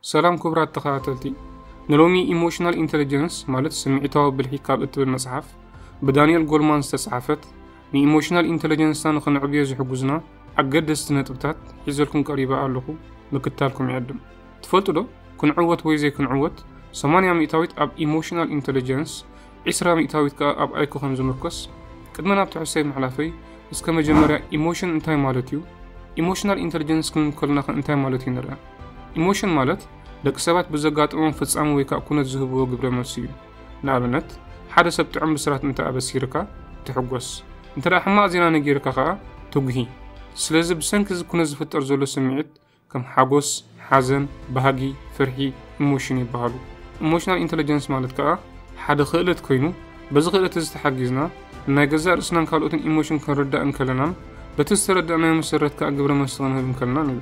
ሰላም ክቡራት ተኸታተልቲ፣ ንሎሚ ኢሞሽናል ኢንተለጀንስ ማለት ስምዒታዊ ብልሒ ካብ እትብል መጽሓፍ ብዳንኤል ጎልማን ዝተጻሕፈት ንኢሞሽናል ኢንተለጀንስና ንኽንዕብዮ ዝሕግዙና ኣገደስቲ ነጥብታት ሒዘልኩም ቀሪበ ኣለኹ። ምክታልኩም ይዕድም። ትፈልጡ ዶ ክንዕወት ወይ ዘይክንዕወት 80 ሚእታዊት ኣብ ኢሞሽናል ኢንተለጀንስ ዒስራ ሚእታዊት ከኣ ኣብ ኣይኮ ከም ዝምርኮስ ቅድሚ ናብቲ ሕሶይ ምሕላፈይ እስከ መጀመርያ ኢሞሽን እንታይ ማለት እዩ ኢሞሽናል ኢንተልጀንስ ክንብል ከሎናኸ እንታይ ማለት እዩ ንርኣ ኢሞሽን ማለት ደቂ ሰባት ብዘጋጥሞም ፍጻሚ ወይ ከዓ ኩነት ዝህብዎ ግብረ መልሲ እዩ ንኣብነት ሓደ ሰብ ጥዑም ብስራት እንተ ኣበሲርካ ትሕጎስ እንተ ሕማቕ ዜና ነጊርካ ከዓ ትጉሂ ስለዚ ብሰንኪ እዚ ኩነት ዝፍጠር ዘሎ ስምዒት ከም ሓጎስ፣ ሓዘን፣ ባህጊ፣ ፍርሒ፣ ኢሞሽን ይበሃሉ። ኢሞሽናል ኢንተለጀንስ ማለት ከኣ ሓደ ክእለት ኮይኑ በዚ ክእለት እዚ ተሓጊዝና ንናይ ገዛእ ርእስናን ካልኦትን ኢሞሽን ክንርዳእ እንከለናን በቲ ዝተረዳእናዮ መሰረት ከኣ ግብረ መልሲ ክንህብ እንከለናን እዩ።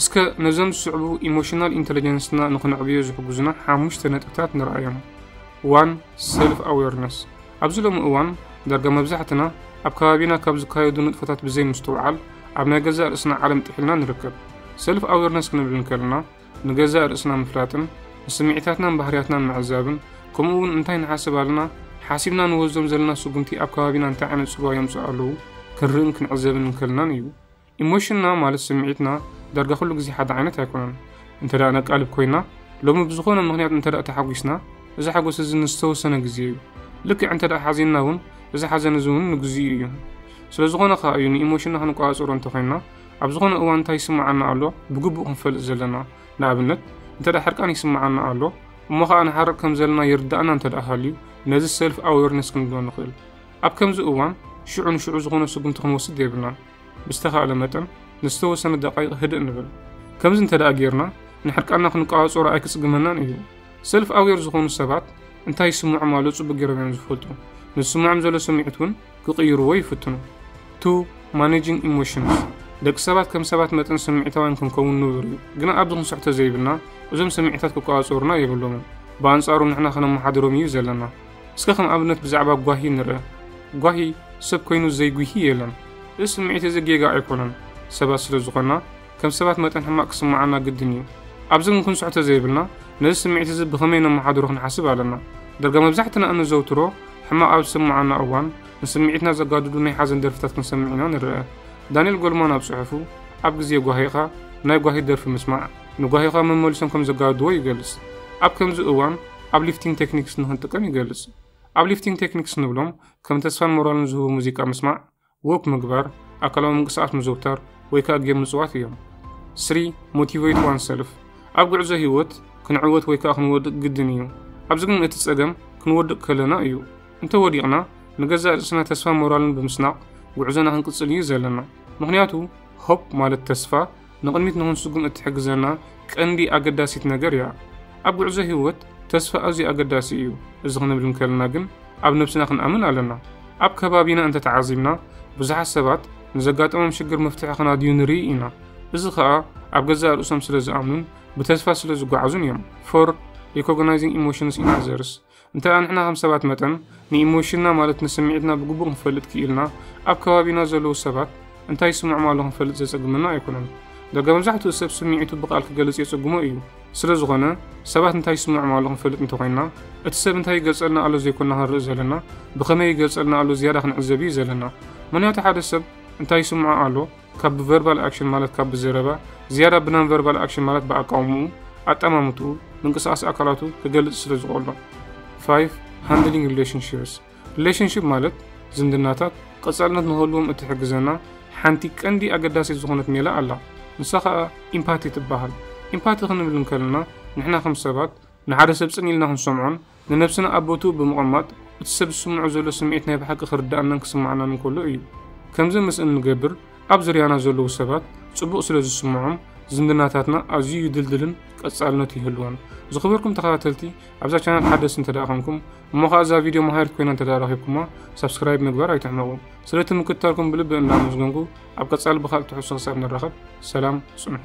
እስከ ነዞም ዝስዕቡ ኢሞሽናል ኢንተለጀንስና ንክነዕብዮ ዝሕግዙና ሓሙሽተ ነጥብታት ንርኣዮም። ዋን ሰልፍ ኣዌርነስ ኣብዚ ሎሚ እዋን ዳርጋ መብዛሕትና ኣብ ከባቢና ካብ ዝካየዱ ንጥፈታት ብዘይ ምስትውዓል ኣብ ናይ ገዛእ ርእስና ዓለም ጥሒልና ንርከብ። ሰልፍ ኣዌርነስ ክንብል እንከለና ንገዛእ ርእስና ምፍላጥን ንስምዒታትናን ባህርያትናን ምዕዛብን ከምኡ እውን እንታይ ንሓስብ ኣለና ሓሲብና ንወስዶም ዘለና ስጉምቲ ኣብ ከባቢና እንታይ ዓይነት ፅልዋ የምፅኡ ኣለዉ ክንርእን ክንዕዘብን እንከልናን እዩ። ኢሞሽንና ማለት ስምዒትና ዳርጋ ኩሉ ግዜ ሓደ ዓይነት ኣይኮነን። እንተ ነቃልብ ኮይና፣ ሎሚ ብዝኾነ ምኽንያት እንተ ተሓጒስና፣ እዚ ሓጎስ እዚ ንዝተወሰነ ግዜ እዩ። ልክዕ እንተ ሓዚንና እውን እዚ ሓዘን እዚ እውን ንግዚኡ እዩ። ስለዝኾነ ከኣ እዩ ንኢሞሽንና ክንቆጻጸሮ እንተ ኮይና ኣብ ዝኾነ እዋን እንታይ ይስምዓና ኣሎ ብግቡእ ክንፈልጥ ዘለና። ንኣብነት እንተ ሕርቃን ይስምዓና ኣሎ እሞ ከኣ ንሓርቕ ከም ዘለና ይርድኣና እንተ ሃልዩ ነዚ ሰልፍ ኣዌርነስ ክንብሎ ንኽእል። ኣብ ከምዚ እዋን ሽዑ ንሽዑ ዝኾነ ስጉምቲ ክንወስድ የብልናን። ብዝተኻእለ መጠን ንዝተወሰነ ደቓይቕ ህድእ ንበል። ከምዚ እንተደኣ ጌርና ንሕርቃንና ክንቆጻጸሮ ኣይክጽግመናን እዩ። ሰልፍ ኣዌር ዝኾኑ ሰባት እንታይ ይስምዖም ኣሎ ጽቡቕ ጌሮም እዮም ዝፈልጡ። ንዝስምዖም ዘሎ ስምዒት እውን ክቕይርዎ ይፍትኑ። ቱ ማኔጂንግ ኢሞሽንስ ደቂ ሰባት ከም ሰባት መጠን ስምዒታውያን ክንከውን ንቡር እዩ። ግና ኣብዚ ክንስሕቶ ዘይብልና እዞም ስምዒታት ክቆጻጸሩና የብሎምን። ብኣንጻሩ ንሕና ከነመሓድሮም እዩ ዘለና። እስከ ከም ኣብነት ብዛዕባ ጓሂ ንርእ። ጓሂ ሰብ ኮይኑ ዘይጉሂ የለን። እዚ ስምዒት እዚ ጌጋ ኣይኮነን። ሰባት ስለ ዝኾንና ከም ሰባት መጠን ሕማቕ ክስምዓና ግድን እዩ። ኣብዚ ግን ክንስሖ ተዘይብልና ነዚ ስምዒት እዚ ብኸመይ ነመሓድሮ ክንሓስብ ኣለና። ዳርጋ መብዛሕትና እነዘውትሮ ሕማቕ ኣብ ዝስምዓና እዋን ንስምዒትና ዘጋድዱ ናይ ሓዘን ደርፍታት ክንሰምዕ ኢና ንርእ። ዳንኤል ጎልማን ኣብ ጽሑፉ ኣብ ግዜ ጓሂኻ ናይ ጓሂ ደርፊ ምስማዕ፣ ንጓሂኻ መመሊሶም ከም ዘጋድድዎ ይገልጽ። ኣብ ከምዚ እዋን ኣብ ሊፍቲንግ ቴክኒክስ ንኽንጥቀም ይገልጽ። ኣብ ሊፍቲንግ ቴክኒክስ ንብሎም ከም ተስፋን ሞራልን ዝህቡ ሙዚቃ ምስማዕ፣ ዎክ ምግባር፣ ኣካላዊ ምንቅስቓስ ምዝውታር ወይ ከኣ ጌም ምጽዋት እዮም። ስሪ፣ ሞቲቨይት ዋን ሰልፍ ኣብ ጉዕዞ ህይወት ክንዕወት ወይ ከኣ ክንወድቅ ግድን እዩ። ኣብዚ ግን እቲ ጸገም ክንወድቅ ከለና እዩ። እንተ ወዲቕና ንገዛእ ርእስና ተስፋን ሞራልን ብምስናቕ ጉዕዞና ክንቅጽል እዩ ዘለና። ምኽንያቱ ሆፕ ማለት ተስፋ፣ ንቕድሚት ንኽንስጉም እትሕግዘና ቀንዲ ኣገዳሲት ነገር እያ። ኣብ ጕዕዞ ህይወት፣ ተስፋ ኣዝዩ ኣገዳሲ እዩ። እዚ ኽንብል እንከለና ግን ኣብ ነብስና ኽንኣምን ኣለና። ኣብ ከባቢና እንተ ተዓዚብና፣ ብዙሓት ሰባት ንዘጋጠሞም ሽግር መፍትሒ ኽናድዩ ንርኢ ኢና። እዚ ኸኣ ኣብ ገዛእ ርእሶም ስለ ዝኣምኑን ብተስፋ ስለ ዝጓዓዙን እዮም። ፎር ሪኮግናይዚንግ ኢሞሽንስ ኢን ኣዘርስ። እንተደኣ ንሕና ከም ሰባት መጠን ንኢሞሽንና ማለት ንስምዒትና ብግቡእ ክንፈልጥ ክኢልና ኣብ ከባቢና ዘለዉ ሰባት እንታይ ይስምዖም ኣሎ ክንፈልጥ ዘጸግመና ኣይኮነን። ደጋ መብዛሕትኡ ሰብ ስምዒቱ ብቃል ክገልጽ የጸግሞ እዩ። ስለ ዝኾነ ሰባት እንታይ ይስምዖም ኣሎ ክንፈልጥ እንተኾይንና እቲ ሰብ እንታይ ይገልጸልና ኣሎ ዘይኮና ክንርኢ ዘለና ብኸመይ ይገልጸልና ኣሎ ዝያዳ ክንዕዘብ እዩ ዘለና። ምኽንያቱ ሓደ ሰብ እንታይ ይስምዖ ኣሎ፣ ካብ ብቨርባል ኣክሽን ማለት ካብ ብዘረባ ዝያዳ ብናን ቨርባል ኣክሽን ማለት ብኣቃውምኡ፣ ኣጠማምትኡ፣ ምንቅስቓስ ኣካላቱ ክገልጽ ስለ ዝቆሎ። 5 ሃንድሊንግ ሪሌሽንሽፕስ ሪሌሽንሽፕ ማለት ዝምድናታት ቀጻልነት ንክህልዎም እትሕግዘና ሓንቲ ቀንዲ ኣገዳሲት ዝኾነት ሜላ ኣላ። ንሳ ከኣ ኢምፓቲ ትበሃል። ኢምፓቲ ክንብል እንከለና ንሕና ከም ሰባት ንሓደ ሰብ ጽን ኢልና ክንሰምዖን ንነብስና ኣብ ቦትኡ ብምቕማጥ፣ እቲ ሰብ ዝስምዖ ዘሎ ስምዒት ናይ ብሓቂ ክርድኣናን ክስምዓናን እንከሎ እዩ። ከምዚ ምስ እንገብር፣ ኣብ ዙርያና ዘለዉ ሰባት ጽቡቕ ስለ ዝስምዖም፣ ዝምድናታትና ኣዝዩ ይድልድልን ቀጻልነት ይህልዎን። ዝኸበርኩም ተኸታተልቲ፣ ኣብዛ ቻነል ሓደስቲ እንተድኣ ኴንኩም፣ እሞ ኸኣ እዛ ቪድዮ መሃሪት ኮይና እንተድኣ ረኺብኩማ፣ ሳብስክራይብ ምግባር ኣይትሕመቑ። ስለቲ ምክትታልኩም ብልቢ እንዳ ኣመስገንኩ፣ ኣብ ቀጻሊ ብኻልእ ትሕዝቶ ክሳብ ንራኸብ፣ ሰላም ጽንሑ።